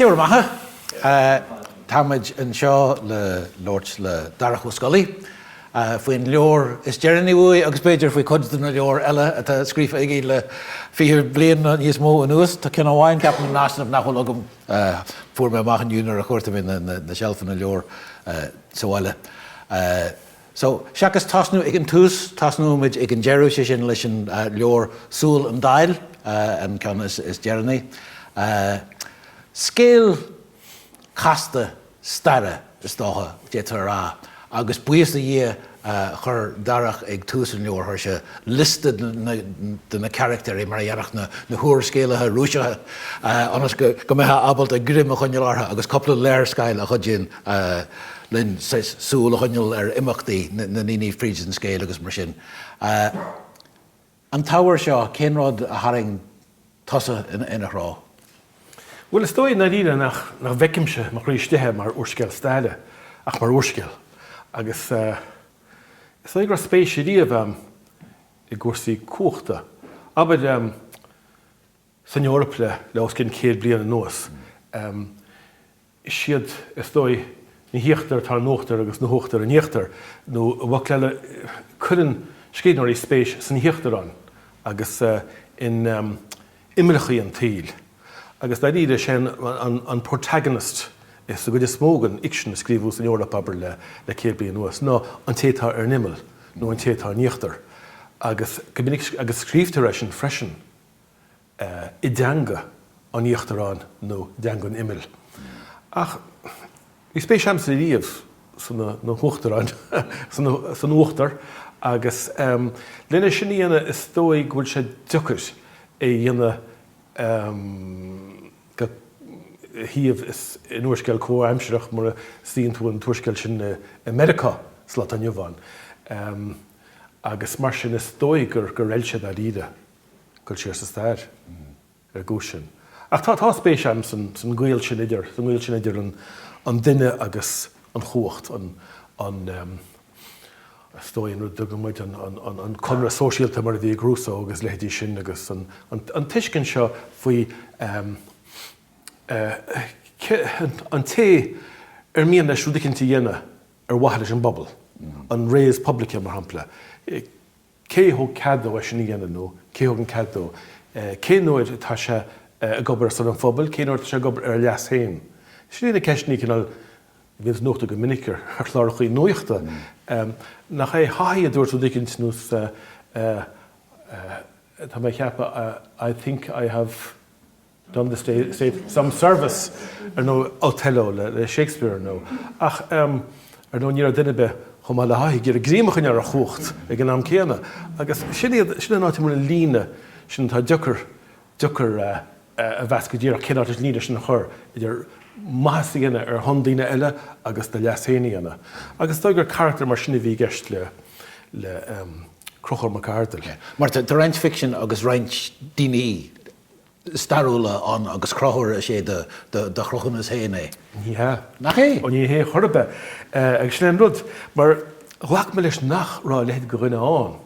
Dia bhur mbeatha. Táimid anseo le labhairt le Darach Ó Scolaí faoin leabhar is deireanaí uaidh agus b'fhéidir faoi chuid de na leabhair eile atá scríofa aige le fiche bliain nó níos mó anuas. Tá ceann amháin, ceapaim, in easnamh nach bhfuil agam, fuair mé amach inniu nuair a chuartaigh mé na seilfeanna leabhar sa bhaile. So, seachas tosnú ag an tús, tosnóidh muid ag an deireadh, sé sin leis an leabhar Súil an Daill, an ceann is deireanaí. Scéal casta staire, is dócha, d'fhéadfá a rá, agus buíochas do Dhia chuir Darach ag tús an leabhair, chuir sé liosta de na carachtair mar a dhéanfadh na húrscéalaithe Rúiseacha, ionas go mbeifeá ábalta greim a choinneáil orthu agus cúpla léarscáil a chuidíonn linn súil a choinneáil ar imeachtaí na ndaoine fríd an scéal agus mar sin. An t-ábhar seo, cén rud a tharraing tusa ina threo? Bhuel, is dóigh i ndáiríre nach bhfeicimse i mo chroí istigh é mar úrscéal staire ach mar úrscéal agus is dóigh go raibh spéis riamh a'm i gcúrsaí cumhachta. Abair, san Eoraip le le os cionn céad bliain anuas. Is iad, is dóigh, na híochtair atá in uachtar agus na huachtair in íochtar, nó i bhfocail eile, cuireann scríbhneoirí spéis san íochtarán agus in imeallacha an tsaoil. Agus dáiríre is é an protagonist i sa gcuid is mó den fhicsean a scríobhadh san Eoraip, abair, le le céad bliain anuas, ná an té atá ar an imeall, nó an té atá in íochtar. Agus agus scríobhtar é sin freisin i dteanga an íochtaráin nó i dteanga an imill. Ach bhí spéis agamsa riamh sna huachtaráin, san uachtar, agus lena sin a dhéanamh is dóigh go bhfuil sé deacair é a dhéanamh dhá shuíomh in úrscéal comhaimsireach mura suíonn tú an t-úrscéal sin i Meiriceá sa lá atá inniu ann. Agus mar sin is dóigh gur fheil sé dáiríre. Goil siar sa stair ar an gcúis sin. Ach tá spéis agam san gaol sin idir, sa ngaol sin idir an duine agus an chumhacht, an, an ehm, is dóigh an rud a dtugann muid an, an, an, an conradh sóisialta mar a bhí ag Rousseau agus leithéidí sin agus an, an, an tuiscint seo faoi ehm, eh, ce, an, an té ar mian leis rud eicínt a dhéanamh ar mhaithe leis an bpobal, an res publica mar shampla, eh, cé a thug cead dó é sin a dhéanamh nó cé a thug an cead dó? Cén uair atá sé ag obair ar son an phobail, cén uair atá sé ag obair ar a leas féin? Sin iad na ceisteanna a cineál bhíonns nochtaithe go minic ar chlárachaí nuachta. Nach é Haughey a dúirt rud éicint nó tá mé ag ceapadh I think I have. Done the state some service, ar ndóigh, Othello le Shakespeare, ar ndóigh, ach ar ndóigh ní raibh duine ar bith chomh maith le Haughey ag iarraidh greim a choinneáil ar a chumhacht ag an am céanna. Agus sin iad, sin an áit a bhfuil an líne sin atá deocair, deocair a mheas go díreach cén áit leis an líne sin a chur idir maitheas a dhéanamh ar shon daoine eile agus do leas féin a dhéanamh. Agus is dóigh gur carachtar mar sin a bhí i gceist le, le Crochúr Mac Ardghail. Mar tá roinnt ficsin agus roinnt daoine stairiúla ann agus Crochúr is é do chruthúnas féin é. Ní hea. Nach é? Ó ní hea chor ar bith. Agus sin é an rud, mar ghlac mise leis nach raibh a leithéid de dhuine ann,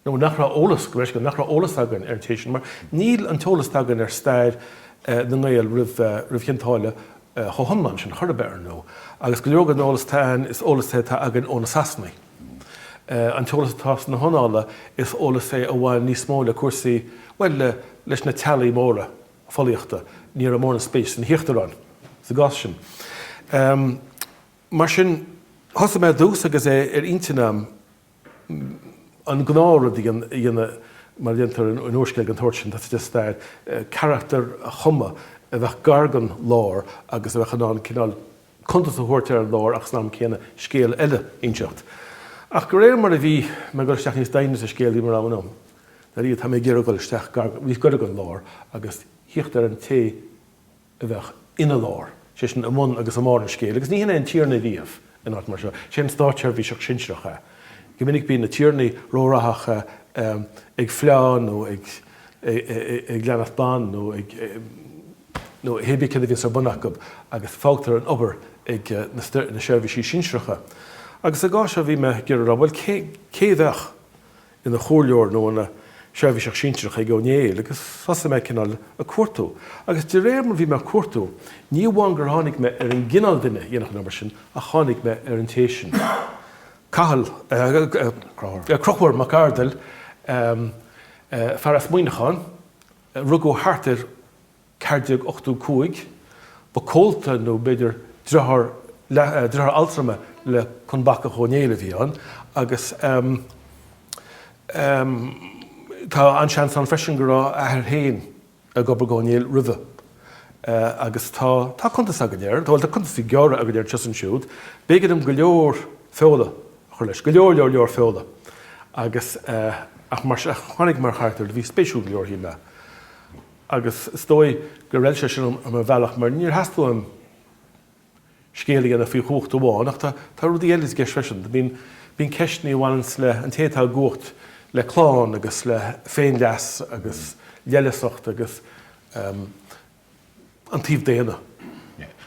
nó nach raibh eolas, go raibh sé, nach raibh eolas againn ar an té sin, mar níl an t-eolas atá againn ar stair na nGael roimh Chionn tSáile chomh hiomlán sin chor ar bith, ar ndóigh. Agus go leor den eolas atá ann, is eolas é atá againn ó na Sasanaigh. An t-eolas atá sna hannála, is eolas é a bhain níos mó le cúrsaí, bhuel, leis na teaghlaigh móra folaíochta. Ní raibh mórán spéis sna híochtaráin sa gcás sin. Mar sin, thosaigh mé ar dtús, agus é ar intinn agam an gnáthrud a dhéanamh, mar a dhéantar in úrscéal den tsórt sin, tá a fhios agat stair, carachtar a chumadh a bheadh gar don lár agus a bheadh in ann cineál cuntas a thabhairt ar an lár ach san am céanna scéal eile a inseacht. Ach de réir mar a bhí mé ag dul isteach níos doimhne sa scéal bhí mé ag rá i m'intinn, Dar Dia, tá mé ag iarraidh dul isteach gar, níos gaire don lár agus thíocht ar an té a bheadh ina lár, sé sin i mbun agus i mbarr an scéil. Agus ní hin é an Tiarna ariamh in áit mar seo. Sé an státseirbhíseach sinsearach é. Go minic bíonn na Tiarnaí róghraitheach ag fleá nó ag leanacht ban nó ag. nó hé bí céard a bhíonns ar bun acu, agus fágtar an obair ag na seirbhísigh shinsearacha. Agus sa gcás seo bhí mé ag iarraidh a rá, bhuel, cé a bheadh ina chomhairleoir nó ina sheirbhíseach sinsearach ag Ó Néill? Agus thosaigh mé ag cineál ag cuartú. Agus de réir mar bhí mé ag cuartú, ní amháin gur tháinig mé ar an gcineál duine a dhéanfadh an obair sin, ach tháinig mé ar an té sin, Cathal, Crochúr Mac Ardail, fear as Muineachán, a rugadh thart ar 1485, ba comhalta nó b'fhéidir driotháir, leath, driotháir altrama le Conn Bacach Ó Néill a bhí ann agus tá an-seans ann freisin go raibh a athair féin ag obair go Ó Néill roimhe. Agus tá, tá cuntas againn air, bhuel tá cuntasaí gearra againn air anseo is ansiúd. B'éigean dom go leor feola a chur leis. Go leor leor leor feola agus ach mar sin tháinig mar charachtair a bhí spéisiúil go leor shíl mé agus is dóigh gur fheil sé sin dom ar bhealach mar níor theastaigh uaim scéal a dhéanamh faoi chumhacht amháin ach tá rudaí eile i gceist freisin. Bíonn bíonn ceisteanna a bhaineann le an té atá i gcumhacht le clann agus le féinleas agus leithleasacht agus ehm. an taobh daonna.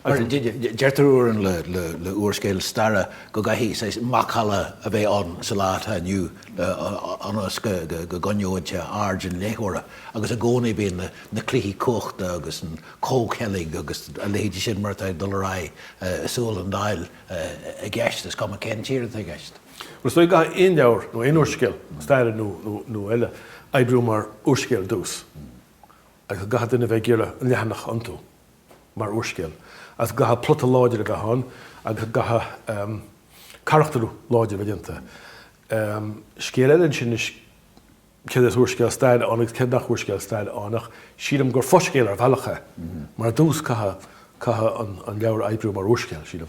Mar a deirtear uaireanta le húrscéal staire go gcaithfidh saghas macalla a bheith ann sa lá atá inniu ionas go gcoinneoidh sé aird an léitheora agus i gcónaí bíonn na cluichí cumhachta agus an comhcheilg agus a leithéidí sin mar atá ag dul ar aghaidh i Súil an Daill i gceist, is cuma cén tír atá i gceist. Is dóigh go gcaithfidh aon leabhar nó aon úrscéal staire nó eile oibriú mar úrscéal ar dtús. agus go gcaithfidh duine a bheith ag iarraidh an leathanach a iontú mar úrscéal, agus go gcaithfidh plota láidir a bheith ann agus go gcaithfidh carachtair láidir a bheith déanta. Scéal eile ansin anois céard is úrscéal staire ann agus céard nach úrscéal staire ann, ach sílim gur fo-scéal ar bhealach é, mar ar dtús caithfidh an leabhar oibriú mar úrscéal, sílim.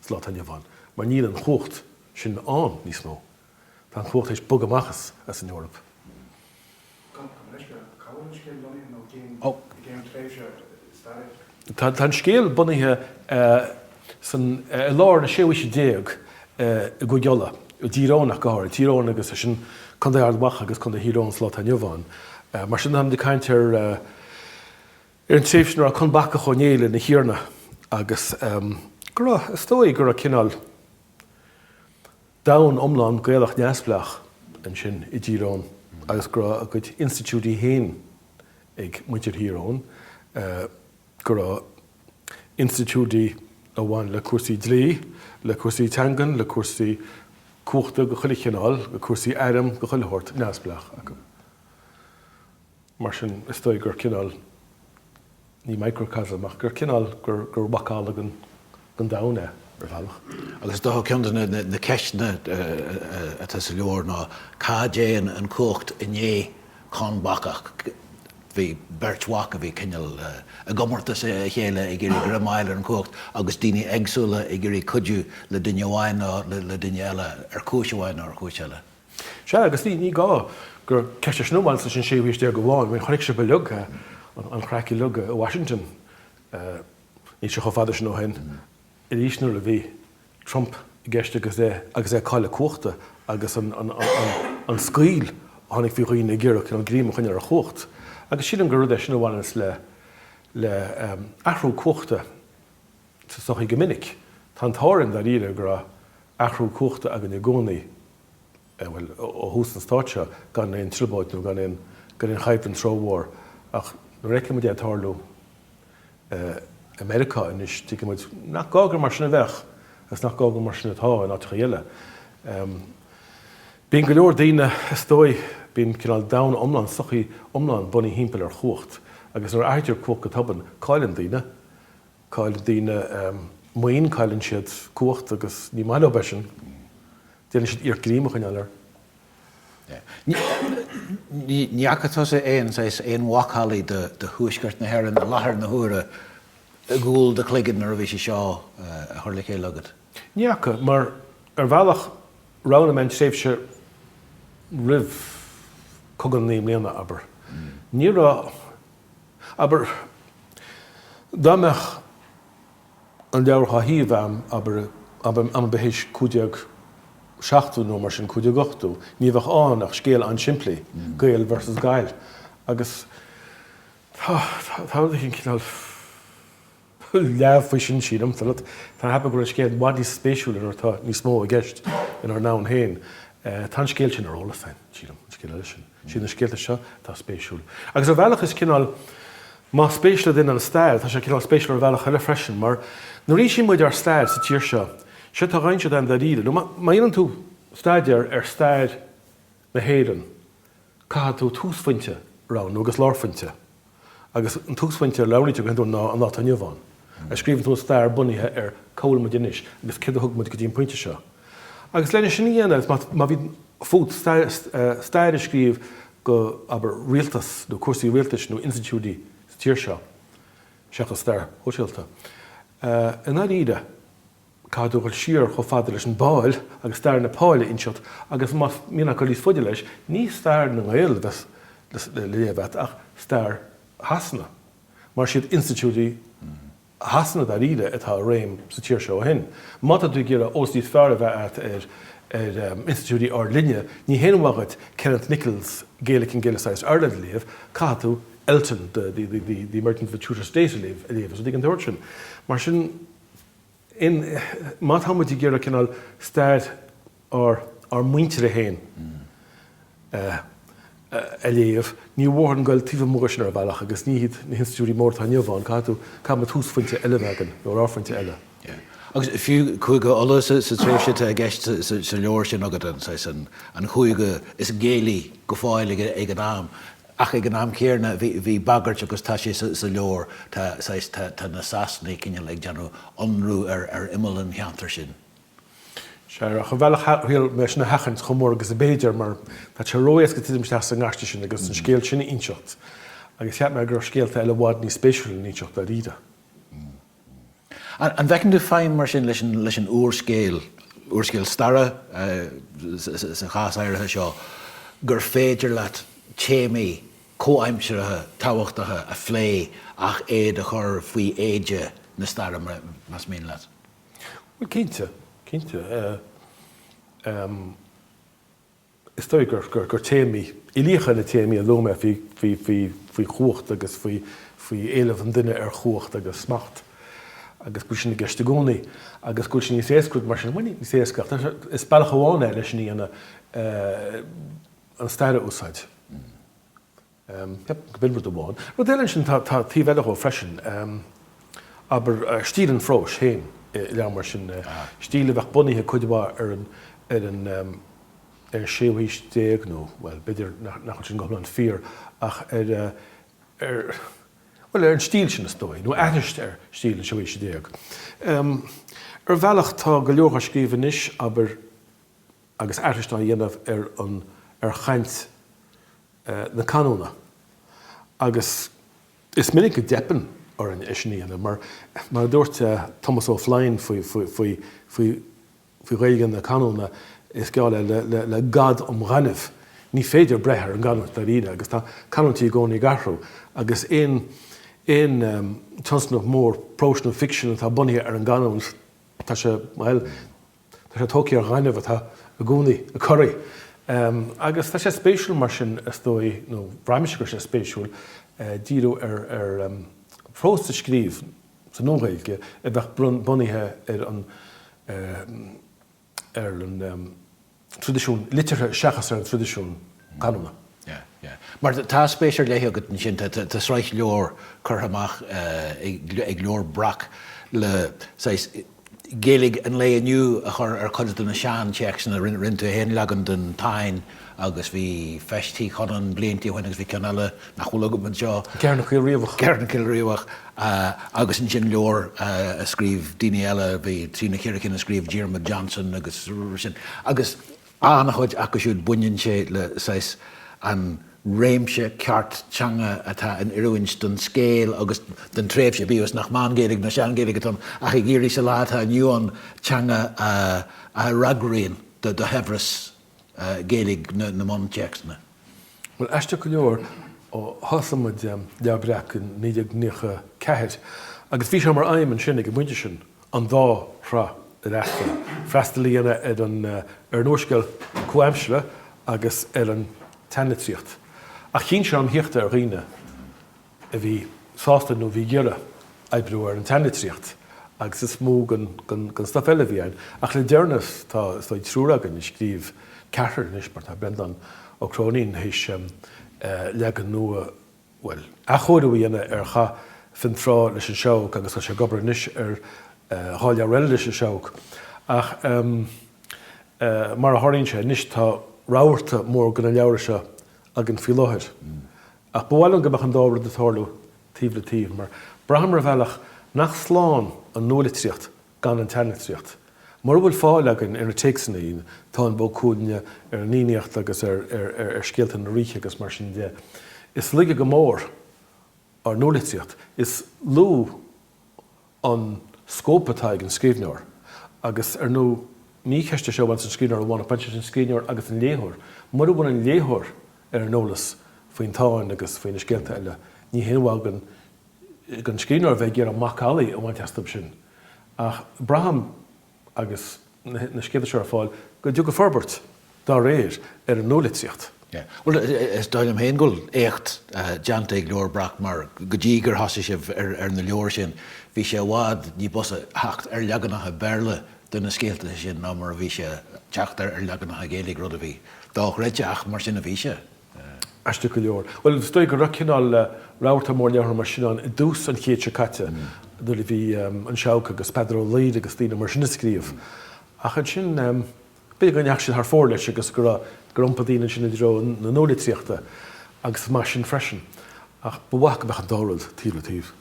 sa lá atá inniu ann, mar níl an chumhacht sin ann níos mó. Tá an chumhacht théis bogadh amach as an Eoraip. Táim leis, go raibh. Cá bhfuil an scéal bunaithe nó cén cén tréimhse staire é? Tá an scéal bunaithe san i lár na séú haoise déag i gCúige Uladh, i dTír Eoghain go háirid, Tír Eoghain agus sin Contae Ard Mhacha agus Contae Thír Eoghain, sa lá atá inniu ann. Mar sin tá muid ag caint ar Ar an tréimhse ina raibh Conn Bacach Ó Néill ina Thiarna agus go raibh, is dóigh go raibh cineál domhan iomlán Gaelach neamhspleách ansin i dTír Eoghain agus go raibh a gcuid institiúidí féin ag muintir Thír Eoghain, go raibh institiúidí a bhain le cúrsaí dlí, le cúrsaí teangan, le cúrsaí cumhachta de chuile chineál, le cúrsaí airm de chuile shórt, neamhspleách acu. Mar sin, is dóigh gur cineál, ní microcosm, ach gur cineál gur macalla den domhan é, ar bhealach. Agus is dócha ceann de na ceisteanna atá sa leabhar ná cá dtéann an chumhacht i ndiaidh Conn Bacach? Bhí beirt mhac a bhí cineál i gcomórtas a chéile ag iarraidh greim a fháil ar an chumhacht, agus daoine éagsúla ag iarraidh cuidiú le duine amháin nó le duine eile, ar chúis amháin nó ar chúis eile. Sea, agus ní, ní gá gur ceist í sin a bhaineann leis an séú haois déag amháin, I mean chonaic sibh uilig, an chraic uilig i Washington níl sé chomh fada sin ó shin, arís nuair a bhí Trump i gceist agus é, agus é ag cailleadh cumhachta agus an, an, an scaoll a tháinig faoi dhaoine ag iarraidh cineál greim a choinneáil ar chumhacht. Agus sílim gur rud é sin a bhaineann le, le athrú cumhachta sa tsochaí go minic. Tá an t-ádh orainn, dáiríre, go raibh athrú cumhachta againn i gcónaí, bhuel, ó thús an Stáit seo, gan aon trioblóid nó gan aon, gan aon chaidhp den troid mhór. Ach nuair a fheiceann muid é ag tarlú i Meiriceá anois, tuigeann muid nach gá gur mar sin a bheadh, agus nach gá gur mar sin atá in áiteachaí eile. Bíonn go leor daoine, is dóigh, bíonn cineál domhan iomlán, sochaí iomlán bunaithe thimpeall ar chumhacht, agus nuair a athraítear cumhacht go tobann, cailleann daoine Cailleann daoine maoin, cailleann siad cumhacht agus ní maith leo é sin. Déanann siad iarracht greim a choinneáil air. Ní fhaca tusa aon saghas, aon mhacallaí de thuaisceart na hÉireann i láthair na huaire i gcúl do chloiginn nuair a bhí sé seo á chur le chéile agat? Ní fhaca, mar ar bhealach roghnaigh mé an tréimhse roimh Cogadh na Naoi mBliana, abair. Ní raibh Abair, dá mbeadh an leabhar scríofa a'm, abair, am, abair, th'éis cúig déag seachtú nó mar sin, cúig déag ochtú, ní bheadh ann ach scéal an-simplí, Gael versus Gaill. Agus tá, tá, tá rud éigin cineál. leamh faoi sin, sílim. Tá, cheapaim go bhfuil scéal i bhfad níos spéisiúla nuair atá níos mó i gceist inár ndomhan féin. Tá an scéal sin ar eolas féin, sílim, an scéal eile sin. Siad na scéalta seo atá spéisiúil. Agus ar bhealach is cineál, más spéis le duine an stair, tá sé cineál spéisiúil ar bhealach eile freisin, mar nuair a insíonn muid ár stair sa tír seo, séard atá i gceist againn dáiríre, má dhéanann tú staidéar ar stair na hÉireann, caithfidh tú túsphointe a roghnú, agus lárphointe. agus an túsphointe a roghnaítear go hiondúil ná an lá atá inniu ann. Scríobhann tú an stair bunaithe ar cá bhfuil muid anois agus céard a thug muid go dtí an pointe seo. Agus lena sin a dhéanamh, agus má bhíonn fút stair a scríobh go, abair, rialtas nó cúrsaí rialtais nó institiúidí sa tír seo, seachas stair shóisialta, i ndáiríre, caithfidh tú dhul siar chomh fada leis an bPáil agus stair na Páile a inseacht agus má théann tú níos faide leis, ní stair na nGael a bheas le léamh agat ach stair Shasana mar siad institiúidí Shasana dáiríre atá i réim sa tír seo ó shin. Má tá tú ag iarraidh eolas níos fearr a bheith agat ar institiúidí ár linne, ní haon mhaith dhuit Kenneth Nicholls Gaelic and Gaelicised Ireland a léamh, caithfidh tú Elton, The Emergence of the Tudor State a léamh, agus rudaí den tsórt sin. Mar sin. má tá muid ag iarraidh cineál stair ár muintire féin a léamh, ní mór dhúinn a ghoil taobh amuigh de sin ar bhealach agus ní hiad na hinstitiúidí móra atá inniu ann, caithfidh tú, caithfidh muid túsphointe eile a bheith againn, nó lárphointe eile. Agus fiú Cúige Uladh sa tréimhse atá i gceist sa leabhar sin agat, an saghas, an Chúige is Gaelaí go fóill ag an am, Ach ag an am céanna, bhí bagairt, agus tá sé sa leabhar, tá saghas, tá na Sasanaigh cineál ag déanamh ionradh ar imeall an cheantair sin. Sea, ach ar bhealach shíl mé sin a sheachaint chomh mór agus a b'fhéidir, mar tá sé ró-éasca titim isteach sa ngaiste sin agus an scéal sin a inseacht, agus cheap mé go raibh scéalta eile i bhfad níos spéisiúla le n-inseacht dáiríre. An bhfeiceann tú feidhm mar sin leis an úrscéal, úrscéal staire sa chás áirithe seo, gur féidir leat téamaí comhaimseartha tábhachtacha a phlé ach iad a chur faoi éide na staire, más mian leat? Bhuel, cinnte, cinnte. Is dóigh gur téamaí uilíocha na téamaí a luaigh mé faoi chumhacht agus faoi éileamh an duine ar chumhacht agus smacht, agus go bhfuil sin i gceist i gcónaí, agus go bhfuil sé níos éasca mar sin, bhuel, ní níos éasca, ach is bealach amháin é le sin a dhéanamh, an stair a úsáid. Yep, gurb in rud amháin. Rud eile ansin, tá taobh eile dhó freisin, abair, stíl an phróis féin i leabhar mar sin, stíl a bheadh bunaithe cuid mhaith ar an, ar an, ar an séú haois déag nó, bhuel, b'fhéidir nach bhfuil sin go hiomlán fíor, ach ar, ar, bhuel, ar an stíl sin is dóigh, nó aithris ar stíl na séú haoise déag. Ar bhealach, tá go leor dhá scríobh anois, abair, agus aithris á dhéanamh ar an ar chaint na canúna. Agus is minic go dteipeann orainn é sin a dhéanamh, mar mar a dúirt Tomás Ó Floinn faoi faoi faoi faoi Ghaeilge na canúna, is geall é le le le gad um ghaineamh, ní féidir breith ar an gcanúint dáiríre, agus tá canúintí i gcónaí ag athrú, agus aon aon tionscnamh mór próis nó ficsin atá bunaithe ar an gcanúint, tá sé, bhuel, Tá sé tógtha ar ghaineamh atá i gcónaí ag corraí. Agus tá sé spéisiúil mar sin, is dóigh, nó bhraith mise go raibh sé spéisiúil, díriú ar phrós a scríobh sa Nua-Ghaeilge a bheadh bunaithe ar an traidisiún liteartha seachas ar an traidisiún. canúna. Mar tá spéis ar leith agat ansin, tá sraith leabhar curtha amach ag Leabhar Breac le Gaeilge an lae inniu a chur ar chuid de na seantéacsanna. Rinne tú féin leagan den Táin agus bhí Feis Tigh Chonáin blianta ó shin agus bhí ceann eile nach bhfuil agam anseo. Ceithearnach Caolriabhach. Ceithearnach Caolriabhach agus ansin leabhar a scríobh daoine eile, bhí trí nó ceithre cinn a scríobh Diarmuid Johnson agus sin. An-chuid acu siúd baineann sé le saghas an réimse ceart teanga atá in oiriúint don scéal agus don tréimhse, bíodh is nach Meán-Ghaeilge ná Sean-Ghaeilge atá ann ach ag iarraidh sa lá atá inniu ann teanga a fhreagraíonn do shaibhreas Ghaeilge na mbuntéacsanna. Bhuel, aisteach go leor, thosaigh muid Leabhar Breac in 1994 agus bhí sé mar aidhm ansin againn ón bpointe sin an dá thrá a fhreastal, freastal a dhéanamh ar an ar an úrscéal comhaimseartha agus ar an tseanlitríocht. Ach chinn sé orm a theacht ar dhaoine a bhí sásta nó a bhí ag iarraidh oibriú ar an tseanlitríocht, agus is mó den den stuif eile a bhí ann. Ach le deireanas, tá, is dóigh, triúr againn a scríobh ceathrar anois, mar tá Breandán Ó Cróinín théis leagan nua bhuel, athchóiriú a dhéanamh ar Chath Fionntrá leis an Seabhac agus tá sé ag obair anois ar dhá leabhar eile leis an Seabhac. Ach mar a tharlaíonn sé anois tá rabharta mór de na leabhra seo againn faoi láthair. Ach ba mhaith liom go mbeadh an dá rud ag tarlú taobh le taobh mar braithim ar bhealach nach slán an nualitríocht gan an tseanlitríocht. Mura bhfuil fáil againn ar na téacsannaí, Táin Bó Cuailnge, ar an Fhiannaíocht agus ar scéalta na ríthe agus mar sin de. Is laige go mór ár nualitríocht. Is lú an scóip atá ag an scríbhneoir. Agus, ar ndú, ní ceist é seo a bhaineas leis an scríbhneoir amháin ach baineann sé leis an scríbhneoir agus an léitheoir. Mura bhfuil an léitheoir ar an eolas faoin Táin agus faoi na scéalta eile, ní haon mhaith don scríbhneoir a bheith ag iarraidh macallaí a bhaint astub sin, ach braithim, agus na scéalta seo ar fáil, go dtiocfaidh forbairt dá réir ar an nualitríocht. Bhuel, is dóigh liom féin go bhfuil éacht déanta ag Leabhar Breac, mar go dtí gur thosaigh sibh ar na leabhair sin, bhí sé i bhfad ní b'fhusa theacht ar leaganacha Béarla de na scéalta sin ná mar a bhí sé teacht ar leaganacha Gaeilge, rud a bhí dochreidte, ach mar sin a bhí sé. Aisteach go leor. Bhuel, is dóigh go raibh cineál rabharta mór leabhra mar sin ann i dtús an chéid seo caite, nuair a bhí An Seabhac agus Peadar Ó Laoghaire agus daoine mar sin ag scríobh. Ach ansin, b'fhéidir go ndeachaigh siad thar fóir leis agus gur iompaigh daoine ansin i dtreo na nualitríochta, agus is maith é sin freisin. Ach ba mhaith go mbeadh an dá rud taobh le taobh.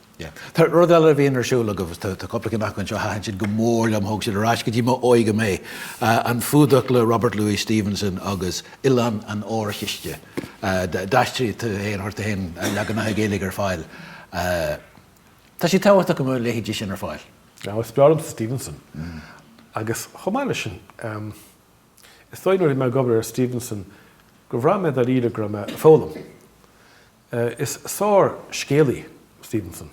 Tá rud eile a bhíonn ar siúl agaibh, tá cúpla cinn acu anseo a thaitin go mór liom, thug siad ar ais go dtí m'óige mé, An Fuadach le Robert Louis Stevenson agus Oileán an Órchiste. D'aistrigh tú fhéin, chuir tú fhéin leaganacha Gaeilge ar fáil. Tá sé tábhachtach go mbeadh leithéidí sin ar fáil. Is breá liom Stevenson agus chomh maith leis sin, is dóigh nuair a bhí mé ag obair ar Stevenson gur bhraith mé dáiríre go raibh mé ag foghlaim. Is sárscéalaí Stevenson.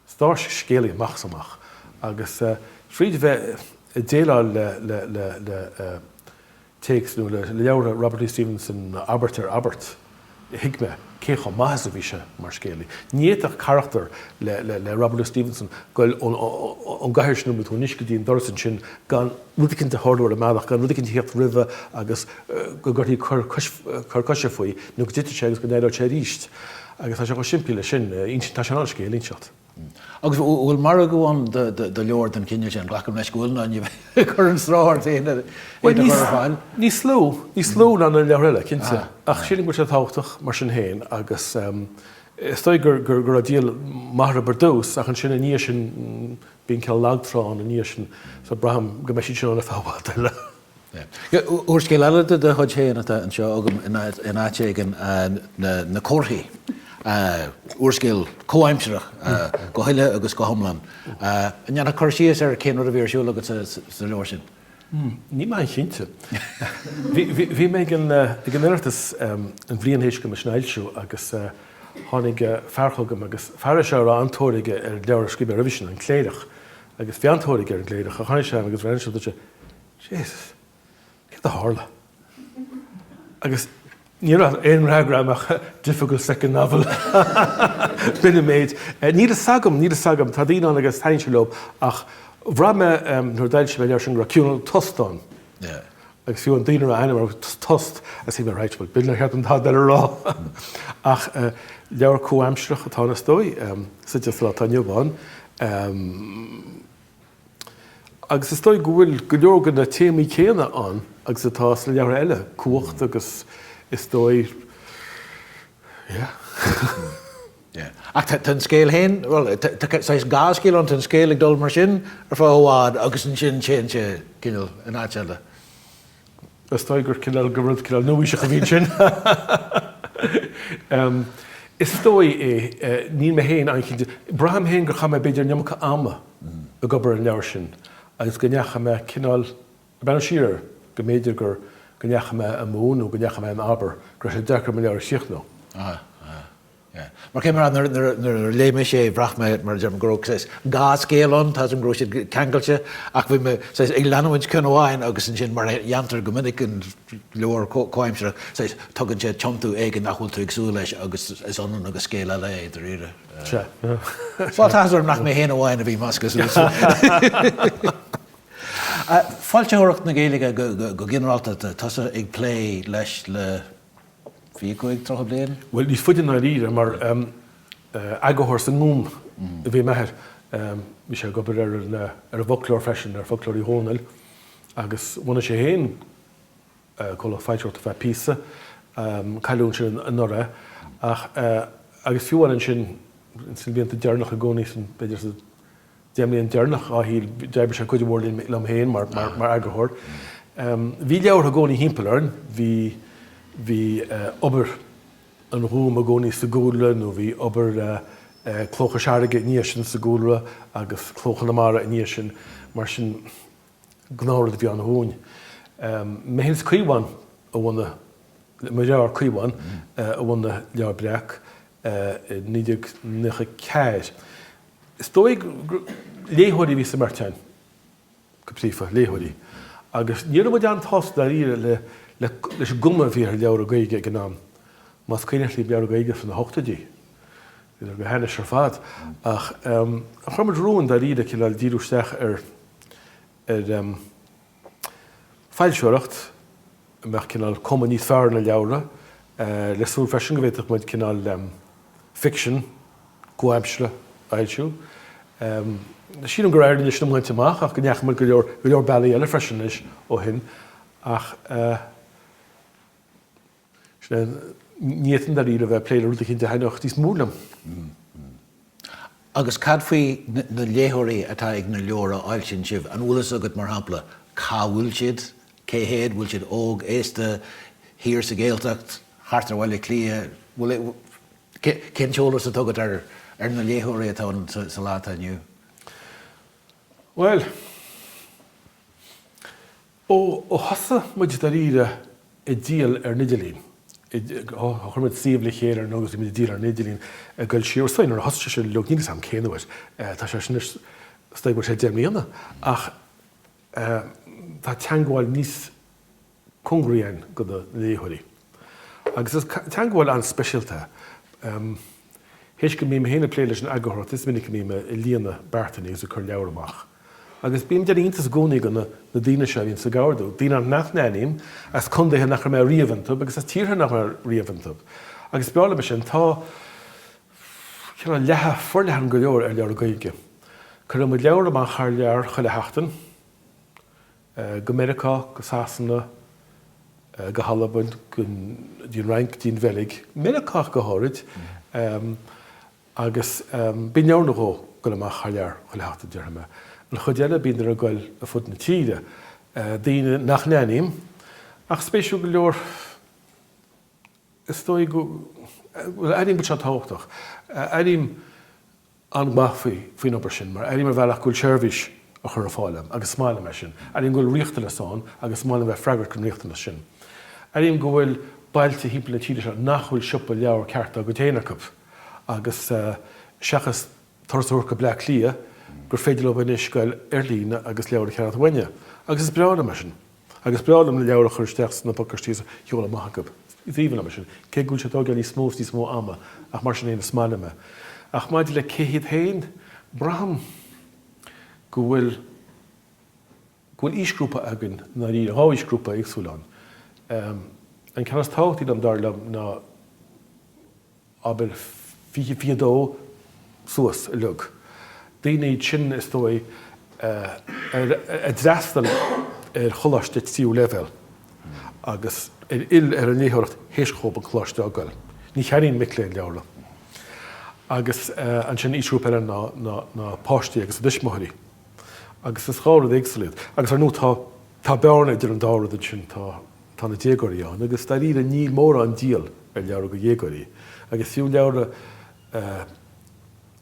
Sárscéalaí amach is amach. Agus fríd bheith ag déileáil le téacs nó le leabhartha Robert Louis Stevenson abairt ar abairt, thuig mé cé chomh maith is a bhí sé mar scéalaí. Ní fhéadfadh carachtar le Robert Louis Stevenson goil ón gcathaoir sin anuas go dtí an doras ansin gan, rud éigin a tharlú ar an mbealach, gan rud éigin a theacht roimhe agus go gcuirfí cor coise faoi, nó go dtitfidh sé agus go n-éireoidh sé arís. Agus tá sé chomh simplí leis sin, tá sé in ann scéal a inseacht. Agus an bhfuil margadh ann do leabhar den chineál sin? Glacaim leis go bhfuil, nó ní bheifeá ag cur an stró ort féin é a chur ar fáil. Níos lú, níos lú ná na leabhair eile, cinnte. Ach sílim go bhfuil sé tábhachtach mar sin féin agus is dóigh gur raibh díol maith orthu ar dtús ach ansin i ndiaidh sin Bíonn cineál lag trá ann i ndiaidh sin so braithim go mbeidh siad sin ann ar feadh i bhfad eile. Úrscéal eile de do chuid féin atá anseo agam in áit éigin, Na Comharthaí, úrscéal comhaimsireach go huile agus go hiomlán. An ndéanfá cur síos ar cén rud a bhí ar siúl agat sa leabhar sin? Níl mé an-chinnte. Bhí mé ag an Oireachtas an bhliain théis dom é sin a fhoilsiú agus tháinig fear chugam agus an fear seo a raibh an-tóir aige ar leabhar a scríobh mé roimhe sin, An Cléireach, agus bhí an-tóir aige ar An gCléireach, ach tháinig sé agus rinne sé, dúirt sé, Jesus, céard a tharla? Agus ní raibh aon fhreagra ann ach difficult second novel. B'in an méid. Níl fhios agam, níl fhios agam. Tá daoine ann agus taitníonn sé leo ach bhraith mé nuair a d'fhoilsigh mé an leabhar sin go raibh cineál tost ann. Agus fiú an duine a raibh a ainm air, Tost, agus bhí mé, right, bhuel b'in a cheart, céard atá le rá. Ach leabhar comhaimsireach atá ann is dóigh, suite sa lá atá inniu ann. Agus is dóigh go bhfuil go leor de na téamaí céanna ann agus atá sna leabhartha eile, cumhacht agus is dóigh, yeah. Yeah. Ach tá an scéal féin, bhuel, tá saghas dhá scéal ann, tá an scéal ag dul mar sin ar feadh i bhfad agus ansin téann sé, cineál, in áit eile. Is dóigh gur cineál go rud cineál nua-aoiseach a bhí ansin. Is dóigh é, níl mé féin an-chinnte. Braithim féin gur chaith mé b'fhéidir an iomarca ama ag obair ar an leabhar sin agus go ndeachaigh mé cineál, ag breathnú siar air, go mb'fhéidir gur, go ndeachaigh mé amú nó go ndeachaigh mé in abar, go raibh sé deacair mo leabhar a chríochnú. Mar cé mar a, nuair a léigh mise é, bhraith mé, mar a deir mé, go raibh, saghas, dhá scéal ann, tá a fhios agam go raibh siad ceangailte, ach bhí mé, saghas, ag leanamhaint ceann amháin agus ansin, mar a dhéantar go minic in leabhair chomhaimseartha, saghas, tugann sé tiontú éigin nach bhfuil tú ag súil leis agus is ionann agus scéal eile é, dairíre. Bhuel, tá áthas orm nach mé féin amháin a bhí measctha suas. Foilsitheoireacht na Gaeilge go ginearálta, tá tusa ag plé leis le. fiche cúig, tríocha bliain? Bhuel, níos faide i ndáiríre, mar eagarthóir sa nGúm a bhí m'athair. Bhí sé ag obair ar an bhfoclóir freisin, ar Fhoclóir Uí Dhónaill, agus bhunaigh sé féin comhlacht foilsitheoireachta feadh píosa, cailleadh é ansin anuraidh, ach, agus fiú amháin ansin, ins na blianta deireanacha i gcónaí sa, b'fhéidir sa, deich mbliana deireanach, dá shaol, d'oibrigh sé cuid mhór liom féin mar eagarthóir. Bhí leabhra i gcónaí thimpeall orainn, bhí, bhí obair an Ghúim i gcónaí sa gcúlra nó bhí obair Cló Chois Fharraige i ndiaidh sin sa gcúlra agus Cló Chonamara i ndiaidh sin, mar sin gnáthrud a bhí ann dhúinn. Mé féin is Caomhán a bhunaigh, mo dheartháir Caomhán, a bhunaigh Leabhar Breac i 1994. Is dóigh gur léitheoirí a bhí sa mbeirt againn, go príomha, léitheoirí. Agus ní raibh muid an-sásta dáiríre le leis an gcuma a bhí ar leabhra Ghaeilge ag an am, más cuimhneach libh leabhra Gaeilge sna hochtóidí, bhí siad go hainnis ar fad, ach chuir muid romhainn dáiríre cineál díriú isteach ar foilsitheoireacht, a mbeadh cineál cuma níos fearr ar na leabhra, le súil freisin go bhféadfadh muid cineál ficsean comhaimseartha a fhoilsiú. Sílim gur éirigh leis an méid sin a bhaint amach ach go ndeachaigh muid go leor bealaí eile freisin anois ó shin ach. Sin é. Ní fhéadfainn dáiríre a bheith ag plé le rud éicint a thaitneodh níos mó liom. Agus cad faoi na léitheoirí atá ag na leabhair a fhoilsíonn sibh? An bhfuil fhios agat, mar shampla, cá bhfuil siad? Cé hiad? An bhfuil siad óg, aosta, thiar sa Ghaeltacht, thart ar Bhaile Átha Cliath? Bhfuil cén t-eolas atá agat ar na léitheoirí atá ann sa lá atá inniu? Bhuel. Ó thosaigh muid dáiríre ag díol ar an idirlíon, chuir muid suíomh le chéile nó agus bhí muid ag díol ar an idirlíon ag dul siar sula, nuair a thosaigh sé sin, níl fhios a'm cén uair, tá sé sin anois is dóigh thar deich mbliana ach tá teagmháil níos, cóngaraí againn do na léitheoirí. Agus is teangabháil an-speisialta é. Th'éis go mbím féin ag plé leis an eagarthóireacht is minic a mbím ag líonadh beartainí agus ag cur leabhar amach. Agus bím ag déanamh iontas i gcónaí de na daoine seo a bhíonns ag ordú, daoine nach n-aithním, as condaetha nach raibh mé riamh iontu agus as tíortha nach raibh mé riamh iontu. Agus is breá liom é sin. Tá cineál leathadh forleathan go leor ar leabhra Gaeilge. Cuireann muid leabhar amach thar lear chuile sheachtain. go Meiriceá, go Sasana, go hAlbain, go dtí an Fhrainc, dtí an Bheilg, Meiriceá go háirid, agus bíonn leabhar nó dhó ag goil amach thar lear chuile sheachtain, déarfaidh mé. An chuid eile bíonn siad ag goil ar fud na tíre, daoine nach n-aithním, ach spéisiúil go leor, is dóigh go, bhuel, airím go bhfuil sé tábhachtach, airím, an-mhaith faoin obair sin mar airím ar bhealach go bhfuil seirbhís á chur ar fáil agam agus is maith liom é sin. Airím go bhfuil riachtanas ann agus is maith liom bheith ag freagairt don riachtanas sin. Airím go bhfuil bailte thimpeall na tíre seo nach bhfuil siopa leabhar ceart dá gcuid féin acu agus seachas turas a thabhairt ar Bhleá Cliath gur féidir leo anois a ghoil ar líne agus leabhar a cheannacht uainne agus is breá liom é sin. Agus is breá liom na leabhra a chur isteach sna pacáistí is a sheoladh amach chucu. Is aoibhinn liom é sin, cé go bhfuil sé ag tógáil níos mó is níos mó ama, ach mar sin fhéin is maith liom é. Ach maidir le cé hiad féin, braithim go bhfuil go bhfuil aoisghrúpaí againn, i ndáiríre. Dhá aoisghrúpa éagsúil ann. An ceann is tábhachtaí acub, dar liom, ná na. abair fiche, fiche dó suas, uilig, daoine iad sin, is dóigh, a d'fhreastail ar choláiste tríú leibhéal agus a d'fhill ar an léitheoireacht théis dhóibh an coláiste a fhágáil. Ní cheannaíonn mic léinn leabhra. Agus ansin aoisghrúpa eile na páistí agus a dtuismitheoirí. Agus is dhá rud éagsúil iad. Agus ar ndóigh tá bearna idir an dá rud ansin, tá. Tá na déagóirí ann agus dairíre níl mórán díol ar leabhra go dhéagóirí agus fiú leabhra a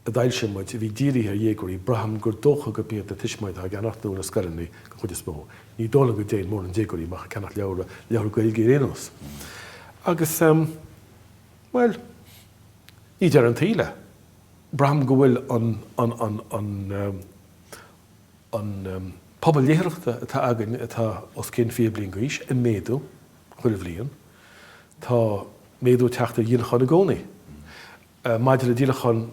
d'fhoilsigh muid a bhí dírithe ar dhéagóirí braithim gur dócha gurb iad na tuismitheoirí atá dhá gceannacht nó na scoileanna den chuid is mó. Ní dóigh liom go dtéann mórán déagóirí amach ag ceannacht leabhra, leabhra Gaeilge ar aon nós. Agus bhuel, ní deireadh an tsaoil é. Braithim go bhfuil an, an, an, an, an pobal léitheoireachta atá againn atá os cionn fiche bliain d'aois, ag méadú chuile bhliain. Tá méadú ag teacht ar dhíolacháin i gcónaí. Maidir le díolachán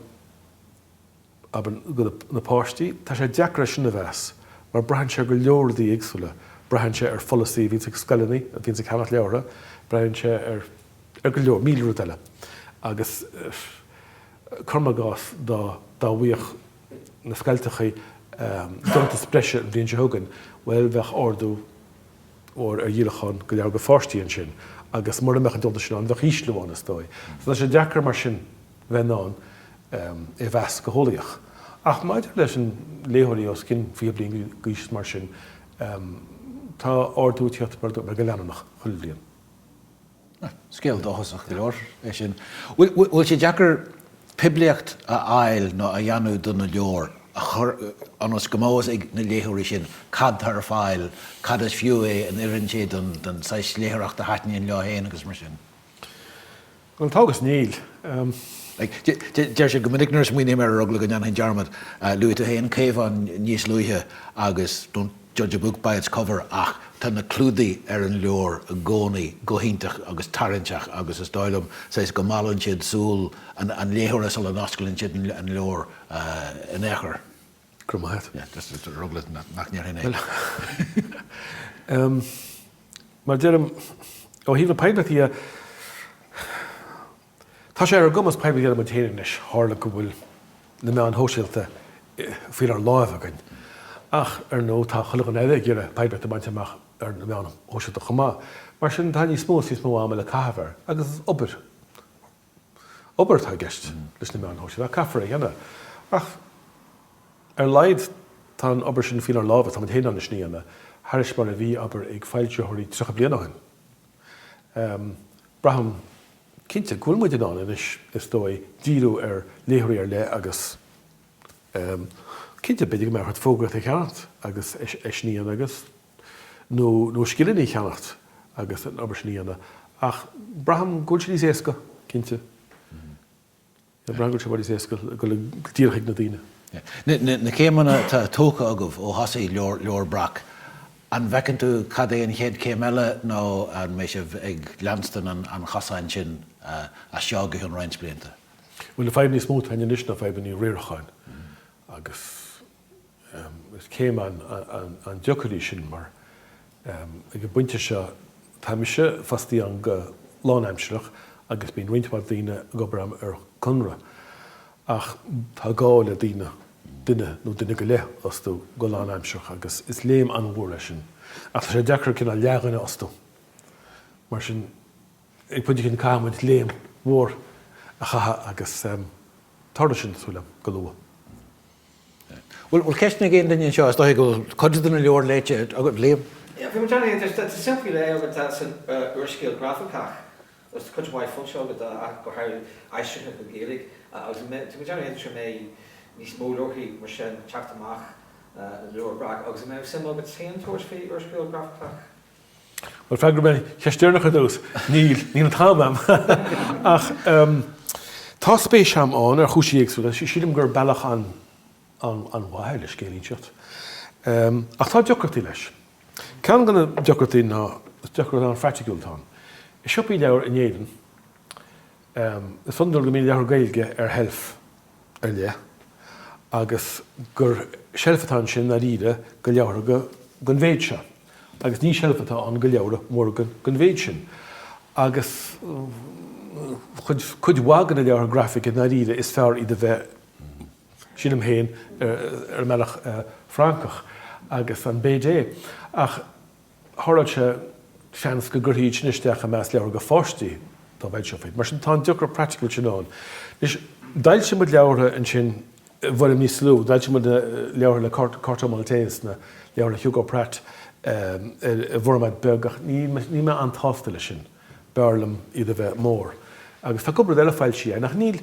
leabhra na bpáistí, tá sé deacair é sin a mheas, mar braitheann sé ar go leor rudaí éagsúla. Braitheann sé ar pholasaí a bhíonns ag scoileanna, a bhíonns ag ceannach leabhartha, braitheann sé ar, ar go leor, míle rud eile. Agus cuirim i gcás, dá bhfaigheadh na scoilteacha deontas breise an bhliain seo chugainn, bhuel, bheadh ardú mór ar dhíolachán leabhra go pháistí ansin, agus mura mbeadh an deontas sin ann, bheadh ísliú ann, is dóigh. So tá sé deacair mar sin bheith in ann é a mheas go heolaíoch. Ach maidir leis na léitheoirí os cionn 20 bliain d'aois is mar sin, tá ardú ag tíocht air go leanúnach chuile bhliain. Scéal dóchasach go leor é sin. Bhfuil sé deacair poiblíocht a fháil nó a dhéanamh do na leabhair, ionas go mbeidh fhios ag na léitheoirí sin cad tá ar fáil, cad is fiú é, an oireann sé don saghas léitheoireacht a thaitníonn leo féin agus mar sin? Bhuel tá agus níl. Deirtear go minic nuair a smaoiním air ar eagla go ndéanfainn dearmad, luaigh tú féin a Chaomháin níos luaithe agus don't. Judge a book by its cover ach tá na clúdaigh ar na leabhair i gcónaí go hiontach agus tarraingteach agus is dóigh liom, saghas, go meallann siad súil an léitheora sula n-osclaíonn siad an leabhar in aon chor. Go raibh maith agat. Yeah, just ar eagla nach ndéarfainn é. Mar a deirim, ó thaobh na poiblíochta dhe, Tá sé ar ár gcumas poiblíocht a dhéanamh muid féin anois, tharla go bhfuil na meáin shóisialta faoinár láimh againn. Ach, ar ndóigh, tá chuile dhuine eile ag iarraidh poiblíocht a bhaint amach ar na meáin shóisialta chomh maith, mar sin tá níos mó agus níos mó ama le caitheamh air, agus is obair, obair atá i gceist leis na meáin shóisialta, ach caithfear é a dhéanamh. Ach, ar a laghad, tá an obair sin faoinár láimh, agus tá muid féin in ann é sin a dhéanamh, thairis mar a bhí, abair, ag foilsitheoirí tríocha bliain ó shin. Braithim cinnte go bhfuil muid in ann anois, is dóigh, díriú ar léitheoirí ar leith agus cinnte, b'fhéidir go mbeadh ort fógraíocht a cheannacht agus é sin a dhéanamh agus, nó nó scileanna a cheannacht agus an obair sin a dhéanamh ach braithim go bhfuil sé níos éasca, cinnte. Braithim go bhfuil sé níos éasca a ghoil go díreach ag na daoine. Na céimeanna atá tógtha agaibh ó thosaigh Leabhar Breac, an bhfeiceann tú cad é an chéad céim eile nó an mbeidh sibh ag leanstan an chosáin sin as seo go ceann roinnt blianta? Bhuel, na fadhbanna is mó atá againn anois ná fadhbanna riaracháin agus. Is céim an-deacair í sin mar ag an bpointe seo tá mise fostaí ann go lánaimsireach agus bíonn roinnt mhaith daoine ag obair ann ar conradh ach tá gá le daoine, duine nó duine go leith a fhostú go lánaimsireach agus is léim an-mhór é sin. Ach tá sé deacair cineál leathdhuine a fhostú. Mar sin ag pointe éigin caithfidh muid léim mhór a chaitheamh agus tarlóidh sin, tá súil agam, go luath. Bhuel, ceist ag aon duine anseo, is dóigh go bhfuil cuid de na leabhair léite agat, Liam? Yeah, bhí mé ag déanamh iontais. Tá suim faoi leith agamsa san úrscéal grafacach, agus cuid mhaith foilsithe agat dá, ach go háirithe aistrithe go Gaeilge, agus tá mé ag déanamh iontais an mbeidh níos mó leabharthaí mar sin ag teacht amach ó Leabhar Breac, agus an mbeadh suim agat féin tabhairt faoi úrscéal grafacach? Bhuel, freagraím an cheist deireanach ar dtús. Níl. Níl an t-am agam. Ach tá spéis agam ann ar chúinsí éagsúla. Sílim gur bealach an-mhaith é le scéal a inseacht. Ach tá deacrachtaí leis. Ceann de na deacrachtaí ná, is deacracht an-phraiticiúil atá ann. I siopaí leabhar in Éirinn, is iondúil go mbíonn leabhartha Gaeilge ar sheilf ar leith, agus gur seilf atá ansin dáiríre do leabhra den mhéid seo, agus ní seilf atá ann do leabhra móra den mhéid sin, agus cuid mhaith de na leabhartha grafacha dáiríre is fearr iad a bheith, sílim féin, ar an mbealach Francach, an BD. Ach tharla sé, seans go gcuirtí iad sin isteach i measc leabhra do pháistí dá bhfoilseofaí iad. Mar sin, tá an deacracht phraiticiúil sin ann. Anois, d'fhoilsigh muid leabhartha ansin i bhfoirm níos lú, d'fhoilsigh muid na leabhartha le Corto Maltese, na leabhartha le Hugo Pratt, i bhformáid beag, ach níl mé an-tsásta leis sin, b'fhearr liom iad a bheith mór. Agus tá cúpla rud eile foilsithe againn, ach níl.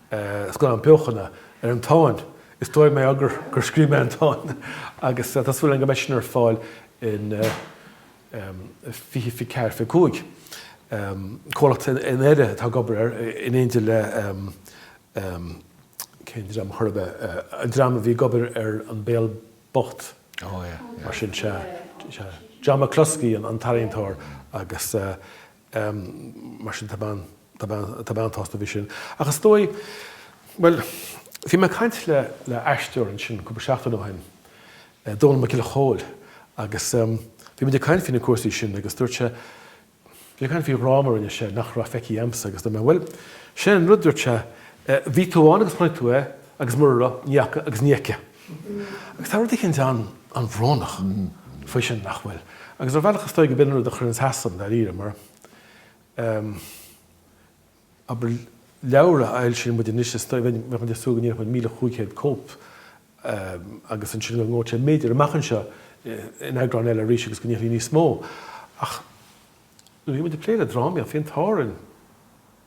scannán beochana ar an Táin. Is dóigh mé ag rá gur scríobh mé an Táin agus tá súil agam go mbeidh sin ar fáil in 2024, 25. Comhlacht i nDoire atá ag obair air in éindí le, cén dream a chur ar bith, an dream a bhí ag obair ar An Béal Bocht, mar sin, sea, John McCluskey an t-ealaíontóir agus Mar sin, tá mé an-tsásta faoi sin. Ach is dóigh, bhuel, bhí mé ag caint le aisteoir ansin cúpla seachtain ó shin, Dónall Mac Giolla Chomhaill, agus bhí muid ag caint faoi na cúrsaí sin agus dúirt sé, bhí sé ag caint faoi dhráma a rinne sé nach raibh feicthe agamsa agus dúirt mé, bhuel, sin an rud, dúirt sé, bhí tú ann agus chonaic tú é agus mura raibh, ní fhaca agus ní fheicfidh. Agus tá rud éicint an-bhrónach faoi sin, nach bhfuil? Agus ar bhealach is dóigh go b'in an rud a chuir an t-uafás orm, dáiríre, mar, em, abair, leabhar a fhoilsíonn muid anois, is dóigh, bheadh muid ag súil go ndíolfadh muid míle chúig chéad cóip, em, agus ansin go ngabhfadh sé b'fhéidir amach anseo in eagráin eile arís agus go ndíolfaí níos mó. Ach nuair a bhí muid ag plé le drámaíocht, bhí an t-ádh orainn,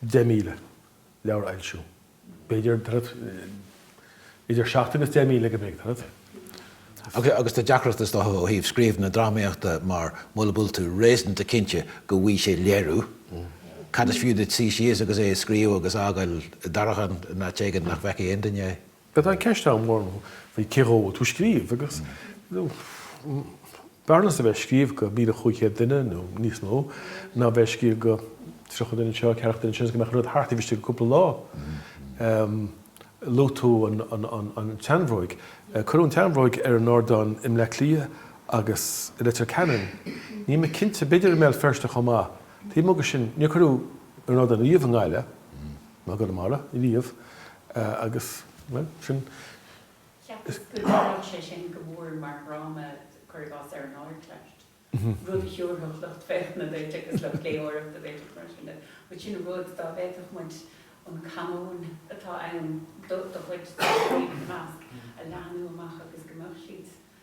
deich míle leabhar a fhoilsiú. B'fhéidir idir seacht agus deich míle go mb'fhéidir. Agus tá deacrachtaí is dócha ó thaobh scríobh na drámaíochta mar mula bhfuil tú réasúnta cinnte go bhfaighidh sé léiriú, cad is fiú duit suí síos agus é a scríobh agus a fhágáil i dtarraiceán in áit éigin nach bhfeicfidh aon duine é? But an cheist mhór ná faoi cé dhó tú ag scríobh, agus b'fhearr liomsa a bheith ag scríobh go míle cúig chéad duine, nó níos mó, ná a bheith ag scríobh go tríocha duine anseo, ceathracha duine ansin, agus go mbeadh an rud thart taobh istigh de cúpla lá. Luaigh tú an tseanbhróig. Cuireadh an tseanbhróig ar an ardán i mBleá Cliath agus i Leitir Ceanainn. Níl mé cinnte, b'fhéidir i mBéal Feirste chomh maith. Taobh amuigh de sin, níor cuireadh ar an ardán riamh i nGaillimh. ná i gConamara riamh agus, bhuel, sin. Cheapas go dtarlódh sé sin go mór mar dhráma, cuir i gcás, ar an Ardteist, rud a thiúrfadh lucht féachana duit agus lucht léitheoireachta duit agus mar sin de. But sin rud, dá bhféadfadh muid an canóin atá ann do chuid de na daoine ina measc, a leathnú amach agus go mbeadh siad,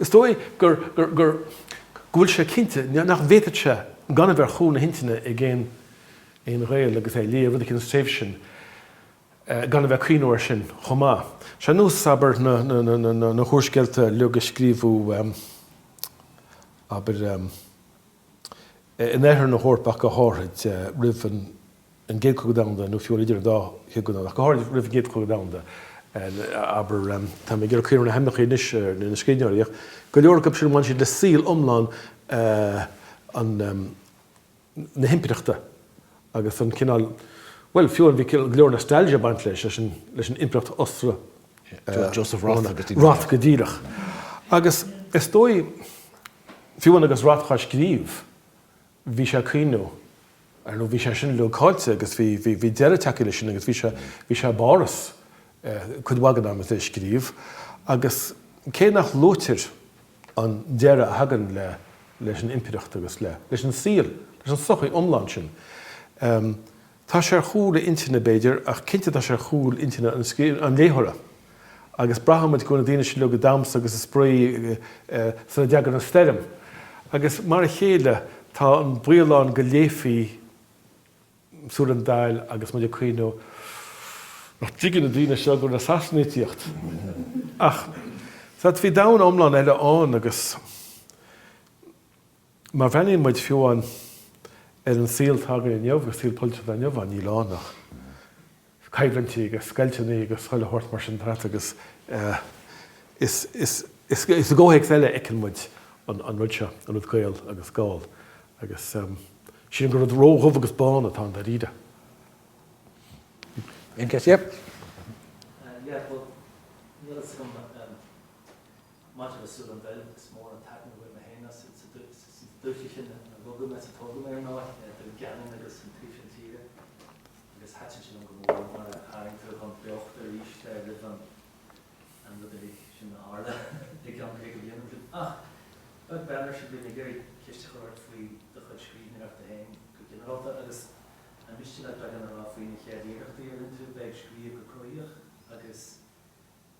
Is dóigh gur go bhfuil sé cinnte nach bhféadfadh sé gan a bheith ar chúl na hintinne ag aon Ghael agus é ag léamh rud eicínt as an tréimhse sin gan a bheith ag cuimhniú air sin chomh maith. Sea, nós, abair, na húrscéalta uilig a scríobhadh, abair, é in oirthear na hEorpa ach go háithrid roimh an gCéad Chogadh Domhanda, nó fiú idir an dá chogadh, ach go háithrid roimh an gCéad Chogadh Domhanda, abair. Tá mé ag iarraidh cuimhniú ar na hainmneacha anois, ar na scríbhneoirí, ach go leor acu sin a bhain siad le saol iomlán na himpireachta agus an cineál, bhuel, fiú bhí go leor nostalgia ag baint leis, leis an impireacht Ostra-, Joseph Roth go díreach. Agus is dóigh, Fiú amháin agus Roth ag scríobh, bhí sé ag cuimhniú, ar ndóigh bhí sé sin uilig caillte agus bhí, bhí, bhí deireadh tagtha leis sin agus bhí sé, bhí sé i bPáras cuid mhaith den am is é ag scríobh agus cé nach luaitear an deireadh a thagann le, leis an impireacht agus le, leis an saol, leis an sochaí iomlán sin. Tá sé ar chúl a intinne, b'fhéidir, ach cinnte tá sé ar chúl intinne an léitheora. Agus braithimid go bhfuil na daoine sin uilig ag damhsa agus ag spraoi sula dteagann an stoirm. Agus mar a chéile tá an baol ann go léifí Súil an Daill agus muid ag cuimhniú nach dtuigeann na daoine seo go bhfuil na Sasanaigh ag tíocht. Ach tá, bhí domhan iomlán eile ann agus. Má bhreathnaíonn muid fiú amháin ar an saol atá againn inniu, agus saol polaitiúil inniu ann, níl ann ach coimhlintí agus scoilteanna agus chuile shórt mar sin thart agus is i gcomhthéacs eile a fheiceann muid an rud seo, an rud Gael agus Gall, agus sílim gur rud ró-dhubh agus bán atá ann dáiríre. Aon cheist? Yep. Yeah, well, níl a fhios agam. Maidir le Súil an Bheil, is mó an áit áithrid a bhfuil mé féin as, is i dtailte Uí Néill a rugadh mé is a tógadh mé ar ndóigh, Dún Geanainn agus an taobh sin tíre, agus thaitin sé liom go mór mar a tharraing tú chun beochta arís roimh an rud uilig sin a tharla i gceann caoga bliain ó shin. Ach, beag beann ar sin, bím ag iarraidh ceist a chur ort faoi do chuid scríbhneoireachta féin go ginearálta, agus an miste leat beagán a rá faoi na chéad iarrachtaí a rinne tú bheith ag scríobh go cruthaitheach agus,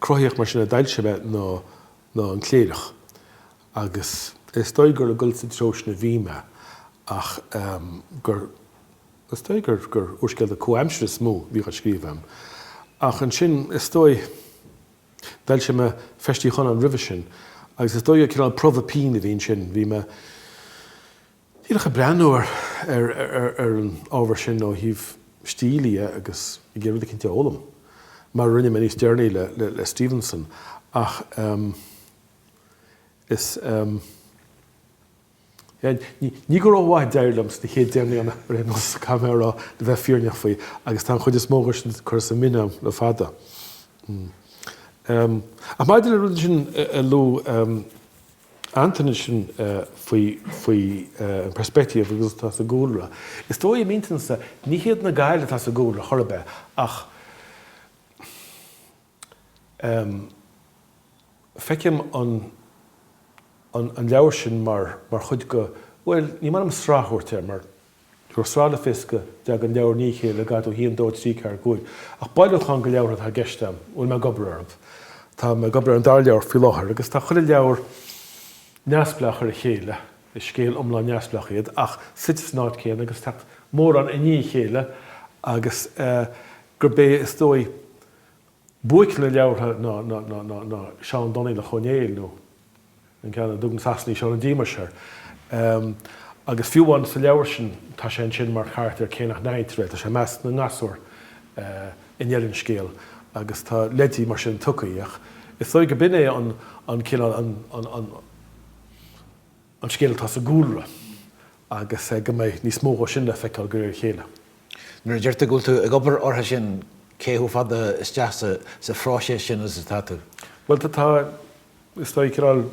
cruthaitheach mar sin. D'fhoilsigh mé An Cléireach agus is dóigh gur ag dul sa treo sin a bhí mé ach gur is dóigh gur gur úrscéalta comhaimsire is mó a bhíodh á scríobh agam. Ach ansin, is dóigh, d'fhoilsigh mé Feis Tigh Chonáin roimhe sin agus is dóigh gur cineál promhadh pinn a bhí ansin, bhí mé. Díreach ag breathnú ar an ábhar sin ó thaobh stíl de agus ag iarraidh rud eicínt a fhoghlaim, mar a rinne mé níos deireanaí le Stevenson, ach is, yeah, ní go rómhaith a d'éirigh liom sna chéad deich mbliana ar aon nós, caithfidh mé a rá, le bheith fírinneach faoi, agus tá an chuid is mó acu sin curtha sa mbin agam le fada. Ach maidir le rud sin a luaigh. Antaine ansin faoi, faoi an perspective agus atá sa gcúlra. Is dóigh i m'intinn-sa, ní hiad na Gaeil atá sa gcúlra chor ar bith ach ehm, feicim an, an, an leabhar sin mar, mar chuid dho, bhuel, ní maith liom sraith a thabhairt air mar, Gur sraith le fios go dtagann na leabhair i ndiaidh a chéile go dtí, a haon, dó trí ceathair cúig, ach bailiúchán de leabhartha atá i gceist a bhfuil mé ag obair orthu. Tá mé ag obair ar an dara leabhar faoi láthair agus tá chuile leabhar neamhspleách ar a chéile, is scéal iomlán neamhspleách iad ach suite san áit chéanna agus teacht mórán i ndiaidh a chéile agus gurb é, is dóigh, Buaic na leabhartha ná Seán Donnghaileach Ó Néill, nó an ceann a dtug na Sasanaigh Seán an Díomais air. Agus fiú amháin sa leabhar sin, tá sé ansin mar charachtar cé nach n-aithnítear é. Tá sé i measc na ngasúr i ndeireadh an scéil agus tá leidí mar sin tugtha. Is dóigh go b'in é an cineál, an. an scéal atá sa gcúlra agus go mbeidh níos mó dhó sin le feiceáil de réir a chéile. Nuair a deir tú go bhfuil tú ag obair orthu sin, cé chomh fada isteach sa phróiseas sin is atá tú? Bhuel, tá, is dóigh, cineál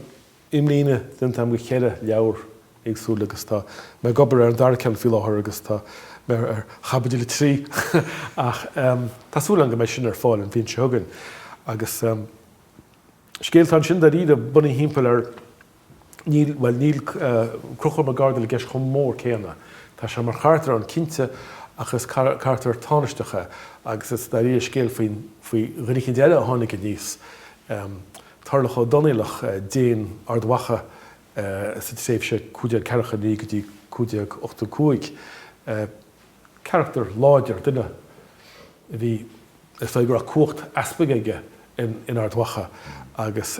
imlíne déanta agam de cheithre leabhar éagsúla agus tá mé ag obair ar an dara ceann faoi láthair agus tá mé ar chaibidil a trí ach tá súil agam go mbeidh sin ar fáil an bhliain seo chugainn. Agus scéal atá ansin dáiríre, bunaithe thimpeall ar, Níl, bhuel, níl Conchúr Mac Ardail i gceist chomh mór céanna. Tá sé mar charachtar ann, cinnte, ach is carachtar tánaisteach é agus is dáiríre scéal faoi dhuine eicínt eile a tháinig aníos, Tarlach Ó Donnaíleach, Déan Ard Mhacha sa tréimhse 1549 go dtí 1585. Carachtar láidir, duine a bhí, is dóigh go raibh cumhacht easpaig aige in Ard Mhacha agus.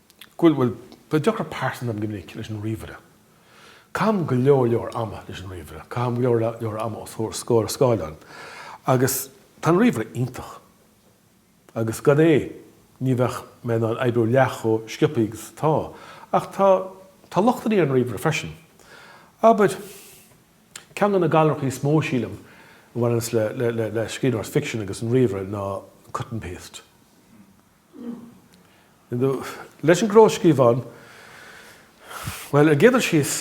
Bhuel, bhuel, tá deacair pearsanta agam go minic leis an ríomhaire. Caithim go leor leor ama leis an ríomhaire. Caithim go leor leor ama os comhair scór scáileáin. Agus tá an ríomhaire iontach. Agus gan é, ní bheadh mé in ann oibriú leath chomh sciobthaí agus atá. Ach tá, tá lochtannaí ar an ríomhaire freisin. Abair, ceann de na galracha is mó, sílim, a bhaineanns le, le, le, le scríbhneoireacht ficsin agus an ríomhaire ná cut and paste. Leis an gclóscríobhán, bhuel, ar an gcéad dul síos,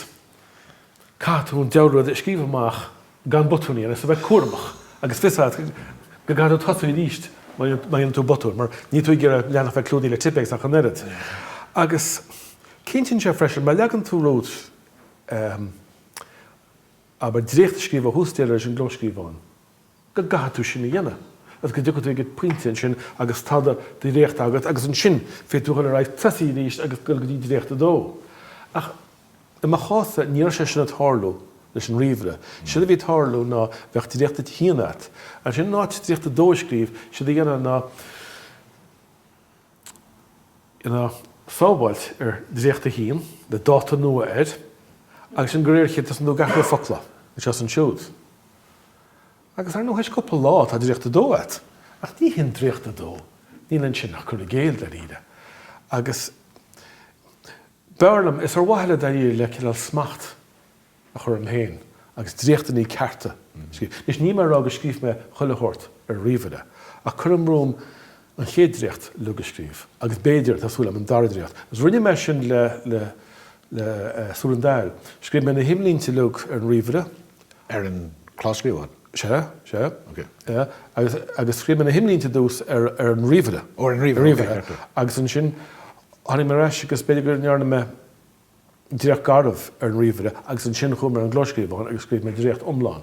caithfidh tú an diabhal rud a scríobh amach gan botúin a dhéanamh, agus a bheith cúramach, agus fios agat go gcaithfidh tú tosú arís má dhéanann tú botún, mar níl tú ag iarraidh leathanach a bheith clúdaithe le Tippex ach an oiread. Agus cinntíonn sé freisin, má leagann tú romhat, abair, dréacht a scríobh ó thús deireadh leis an gclóscríobhán, go gcaithfidh tú sin a dhéanamh agus go dtiocfaidh tú ag an bpointe ansin agus tá do dhréacht agat agus ansin féadfaidh tú dhul ar aghaidh tosaí arís agus dul go dtí dréacht a dó. Ach i mo chás-sa, ní raibh sé sin ag tarlú leis an ríomhaire. Séard a bhí ag tarlú ná bheadh dréacht a haon agat. Ansin in áit dréacht a dó a scríobh, séard a dhéanfá ná dhéanfá sábháilt ar dréacht a haon, le dáta nua air, agus ansin de réir a chéile, tosaíonn tú ag athrú focla, anseo is ansiúd. Agus ar ndóigh, théis cúpla lá, tá Dréacht 2 agat. Ach ní hin Dréacht 2. Níl ansin ach cur i gcéill, dáiríre. Agus, b'fhearr liom, is ar mhaithe le, dáiríre, le cineál smacht a chur orm féin agus dréachtannaí cearta a scríobh. Anois, níl mé ag rá go scríobh mé chuile shórt ar an ríomhaire. Ach cuirim romham an chéad dréacht, uilig, a scríobh. Agus b'fhéidir, tá súil agam, an dara dréacht. Agus rinne mé sin le, le, le Súil an Daill. Scríobh mé na himlínte uilig ar an ríomhaire. Ar an gclóscríobhán? Sea, sea. Ok. Agus, agus scríobh mé na himlínte ar dtús ar, ar an ríomhaire. Ó, ar an ríomhaire, ok, ceart. Agus ansin tháinig mé ar ais agus b'fhéidir go ndearna mé dréacht garbh ar an ríomhaire agus ansin chuaigh mé ar an gclóscríobhán agus scríobh mé dréacht iomlán.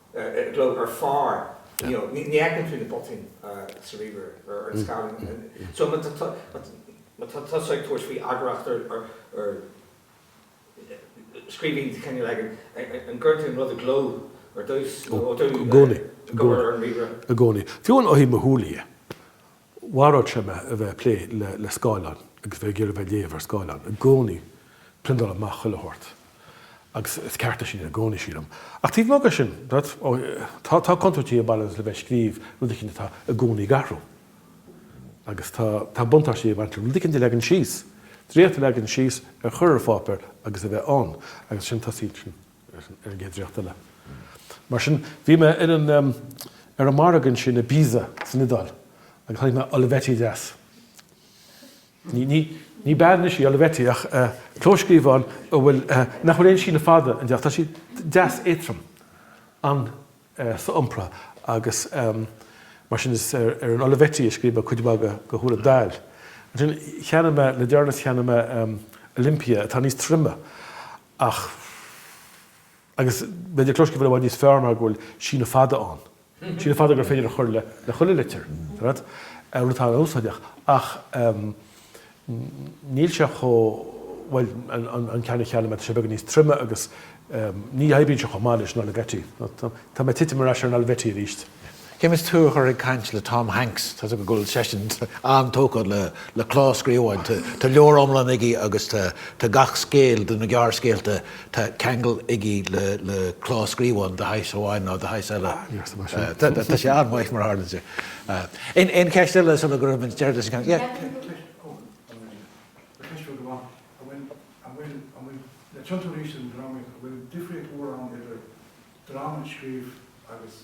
i gcló ar phár you know ní fheiceann tú na botúin sa ríomhaire ar an scáileán so má tá má tá tusa ag tabhairt faoi eagarthóireacht ar ar scríbhinn de chineál éigin an gcuireann tú an rud i gcló ar dtús nó ó go i gcónaí i gcónaí fiú amháin ó thaobh mo shúl dhe. Mharódh sé mé a bheith ag plé le scáileán agus bheith ag iarraidh a bheith ag léamh ar scáileán. I gcónaí, priondáil amach chuile shórt. Agus is ceart é sin i gcónaí, sílim. Ach taobh amuigh de sin, tá contúirtí ag baint le bheith ag scríobh rud éicint atá i gcónaí ag athrú. Agus tá buntáistí ag baint le rud éicint a leagan síos, dréacht a leagan síos a chur ar pháipéar agus a bheith ann, agus ansin tosaíonn ar an gcéad dréacht eile. Mar sin, bhí mé ar an ar an margadh ansin i bPisa san Iodáil agus chonaic mé Olivetti deas. Ní ní ní beag anois í Olivetti ach clóscríobhán a bhfuil nach bhfuil aon síneadh fada ann. Deas, tá sí deas éatrom, an-so-iompra agus mar sin is ar an Olivetti a scríobh mé cuid mhaith de Go mBeinnse Choíche. Ansin cheannaigh mé le deireanas cheannaigh mé Olympia atá níos troime Ach, agus b'fhéidir clóscríobhán i bhfad níos fearr mar go bhfuil síneadh fada ann, síneadh fada gur féidir a chur le chuile litir, tá fhios agat, rud atá an-úsáideach, ach níl sé chomh, bhuel, an ceann a cheannaigh mé, tá sé beagán níos troime agus ní oibríonn sé chomh maith leis an Olivetti. Tá mé ag titim ar ais ar an Olivetti arís. Caithfimid tú a chur ag caint le Tom Hanks, tá a fhios agat go bhfuil seisean an-tógtha le clóscríobháin, tá leabhar iomlán aige agus tá gach scéal de na gearrscéalta, tá ceangal aige le clóscríobhán de shaghas amháin nó de shaghas eile. Tá sé an-mhaith mar a tharlaíonn sé. Aon cheist eile sula gcuirfimid deireadh leis an gceann? Yeah. An cheist rud amháin, an bhfuil na tiontóirí sin drámaíocht, an bhfuil difríocht mhór ann idir dráma a scríobh agus.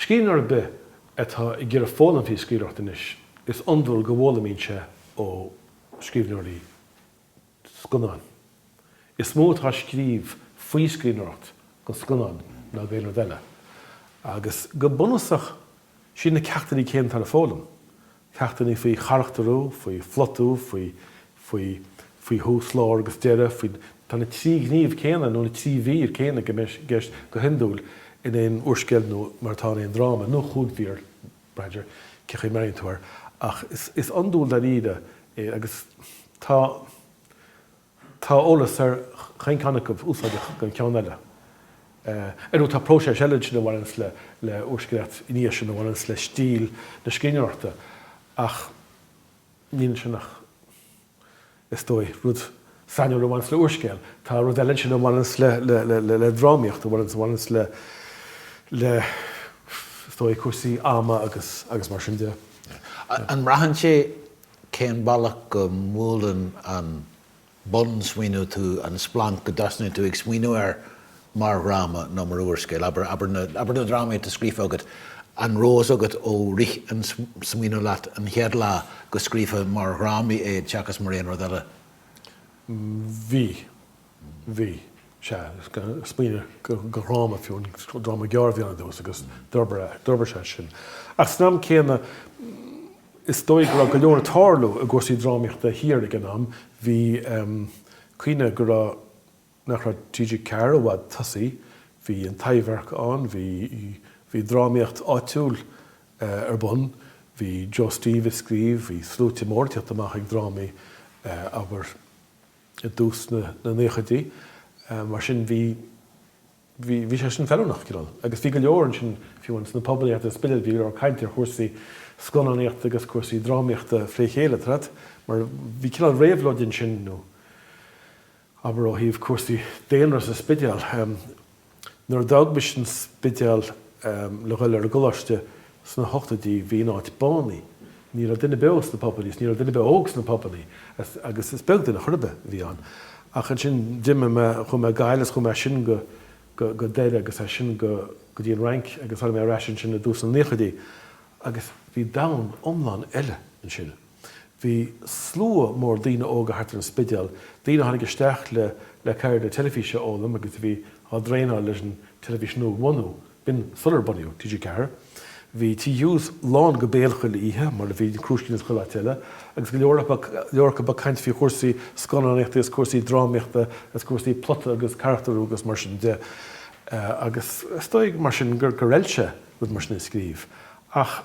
Scríbhneoir ar bith atá ag iarraidh foghlaim faoi scríbhneoireacht anois, is iondúil go bhfoghlaimíonn sé ó scríbhneoirí scannán. Is mó atá scríofa faoi scríbhneoireacht don scannán ná d'aon rud eile, agus go bunúsach, siad na ceachtanna céanna atá le foghlaim, ceachtanna faoi charachtarú, faoi phlotú, faoi, faoi, faoi thús, lár agus deireadh, faoi, tá na trí ghníomh céanna nó na trí mhír céanna i gceist go hiondúil in aon úrscéal nó mar atá in aon dráma, nó cúig mhír, b'fhéidir, cé chaoi a mbreathnaíonn tú air, ach is iondúil dáiríre é agus tá. Tá eolas ar chaon ceann acu úsáideach don cheann eile. Ar ndóigh, tá próiseas eile ansin a bhaineanns le úrscéalaíocht ina dhiaidh sin, a bhaineanns le stíl na scríbhneoireachta, ach níl ansin ach, is dóigh, rud sainiúil a bhaineanns le úrscéal. Tá rud eile ansin a bhaineanns le drámaíocht, a bhaineanns le, is dóigh, cúrsaí ama agus mar sin de. An mbraitheann sé cén bealach go mbuaileann an bun-smaoineamh tú, an splanc go dtosnaíonn tú ag smaoineamh air mar dhráma nó mar úrscéal, abair, abair na drámaí atá scríofa agat, an raibh fhios agat ó rith an smaoineamh leat an chéad lá go scríofá mar dhrámaí iad seachas mar aon rud eile? Bhí. Bhí. Sea. Smaoinigh gur dhráma fiú, an dráma gearr a bhí ann ar dtús agus d'fhorbair sé ansin. Ach san am céanna, is dóigh go raibh go leor ag tarlú i gcúrsaí drámaíochta thiar ag an am. Bhí. Cuimhnigh go raibh, nach raibh TG4 i bhfad tosaithe, bhí an Taibhdhearc ann, bhí, bhí drámaíocht áitiúil ar bun, bhí Joe Steve ag scríobh, bhí sluaite mór ag teacht amach ag drámaí, abair, i dtús na naochaidí, mar sin bhí, bhí, bhí sé sin feiliúnach, cineál. Agus bhí go leor ansin, fiú amháin sna pubannaí thart ar an Spidéal, bhí go leor cainte ar chúrsaí scannánaíochta agus cúrsaí drámaíochta fré chéile, tá fhios agat, mar bhí cineál réabhlóid ansin, nó, abair, ó thaobh cúrsaí daonra sa Spidéal. Nuair a d'fhág mise an Spidéal le dhul ar an gcoláiste sna hochtóidí bhí an áit bánaithe. Ní raibh duine beo sna pubannaí is ní raibh duine beo óg sna pubannaí agus is beag duine chor ar bith a bhí ann. Ach ansin d'imigh mé, chuaigh mé Gaillimh is chuaigh mé as sin go Doire agus as sin go dtí an Fhrainc agus tháinig mé ar ais ansin i dtús na naochaidí agus bhí domhan iomlán eile ansin. Bhí slua mór daoine óga thart ar an Spidéal, daoine a tháinig isteach le ceird na teilifíse a fhoghlaim agus a bhí á dtraenáil leis an teilifís nua a bhunú, b'in sular bunaíodh TG4. Bhí Tigh Hughes lán go béal chuile oíche, mar a bhí an Crúiscín is chuile áit eile, agus go leor acu ag caint faoi chúrsaí scannánaíochta is cúrsaí drámaíochta is cúrsaí plota agus carachtarú agus mar sin de. Agus is dóigh, mar sin, gur fheil sé rud mar sin a scríobh. Ach.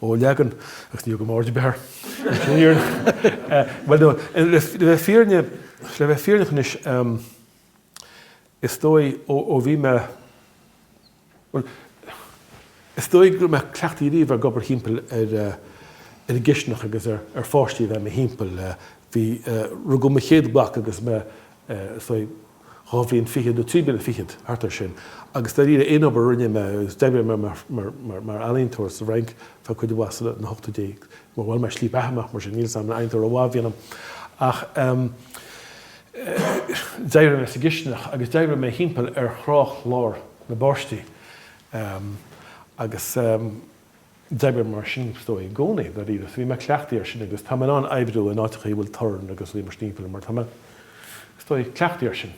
Ó, leagann, agus ní thugaim aird ar bith air, sin an fhírinne. Bhuel, no, le bheith fírinne, le bheith fírinneach anois, is dóigh, ó, ó bhí mé, bhuel, is dóigh go raibh mé cleachtaithe riamh ag obair thimpeall ar, ar an gcistineach agus ar, ar pháistí a bheith i mo thimpeall. Bhí, rugadh mo chéad mhac agus mé, is dóigh, dhá bhliain fichead nó trí bliana fichead, thart air sin. Agus dáiríre, aon obair a rinne mé, agus d'oibrigh mé mar ealaíontóir sa bhFrainc feadh cuid mhaith de na hochtóidí, agus má bhain mé slí beatha amach mar sin, níl fhios agam an ealaíontóir mhaith a bhí ionam, ach d'oibrigh mé sa gcistineach agus d'oibrigh mé thimpeall ar thráthchlár na bpáistí. Agus. D'oibrigh mar sin, is dóigh, i gcónaí, dáiríre. So bhí mé cleachtaithe air sin agus tá mé in ann oibriú in áiteachaí a bhfuil torann agus rudaí mar sin timpeall orm mar tá mé, is dóigh, cleachtaithe air sin.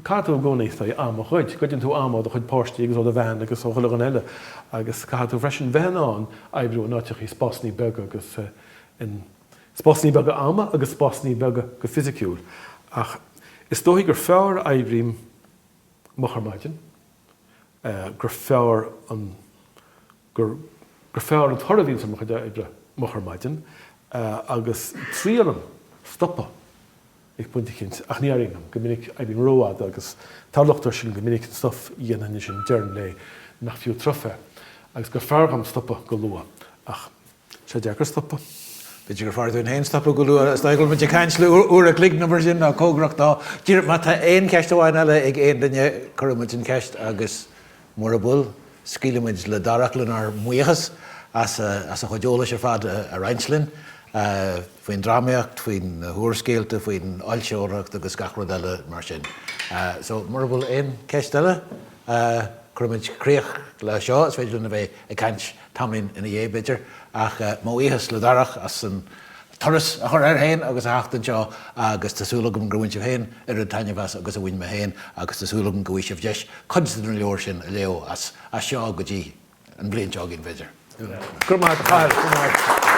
Caithfidh tú i gcónaí, is dóigh, am a ghoid. Goideann tú am ó do chuid páistí agus ó do bhean agus ó chuile dhuine eile agus caithfidh tú freisin bheith in ann oibriú in áiteachaí, spásannaí beaga agus in spásannaí beaga ama agus spásannaí beaga go fisiciúil. Ach is dóigh gur fearr a oibrím moch ar maidin, gur fearr an gur gur fearr an toradh a bhíonns ar mo chuid oibre moch ar maidin agus triailim stopadh ag pointe eicínt ach ní éiríonn liom, go minic oibrím ró-fhada agus tá locht air sin go minic an stuif a dhéanaim ansin deireadh an lae nach fiú triuf é agus gur fearr dhom stopadh go luath ach Sé deacair stopadh. B'fhéidir gur fearr dúinn féin stopadh go luath is dóigh táimid ag caint le uair an chloig nó mar sin, nó cóngarach dó. Díreach má tá aon cheist amháin eile ag aon duine, cuirfimid an cheist agus mura bhfuil, scaoilimid le Darach lenár mbuíochas as a chuid eolais ar fad a roinnt linn, faoin drámaíocht, faoi na húrscéalta, faoin fhoilsitheoireacht agus gach rud eile mar sin. So, mura bhfuil aon cheist eile, cuirfimid críoch le seo. Is féidir linn a bheith ag caint tamaillín ina dhiaidh, b'fhéidir, ach mo bhuíochas le Darach as an turas a chur air féin agus a theacht anseo agus tá súil agam gur bhain sibh féin an oiread taitnimh as agus a bhain mé féin agus tá súil agam go bhfaighidh sibh deis cuid de na leabhair sin a léamh as seo go dtí an bhliain seo chugainn, b'fhéidir. Go raibh maith.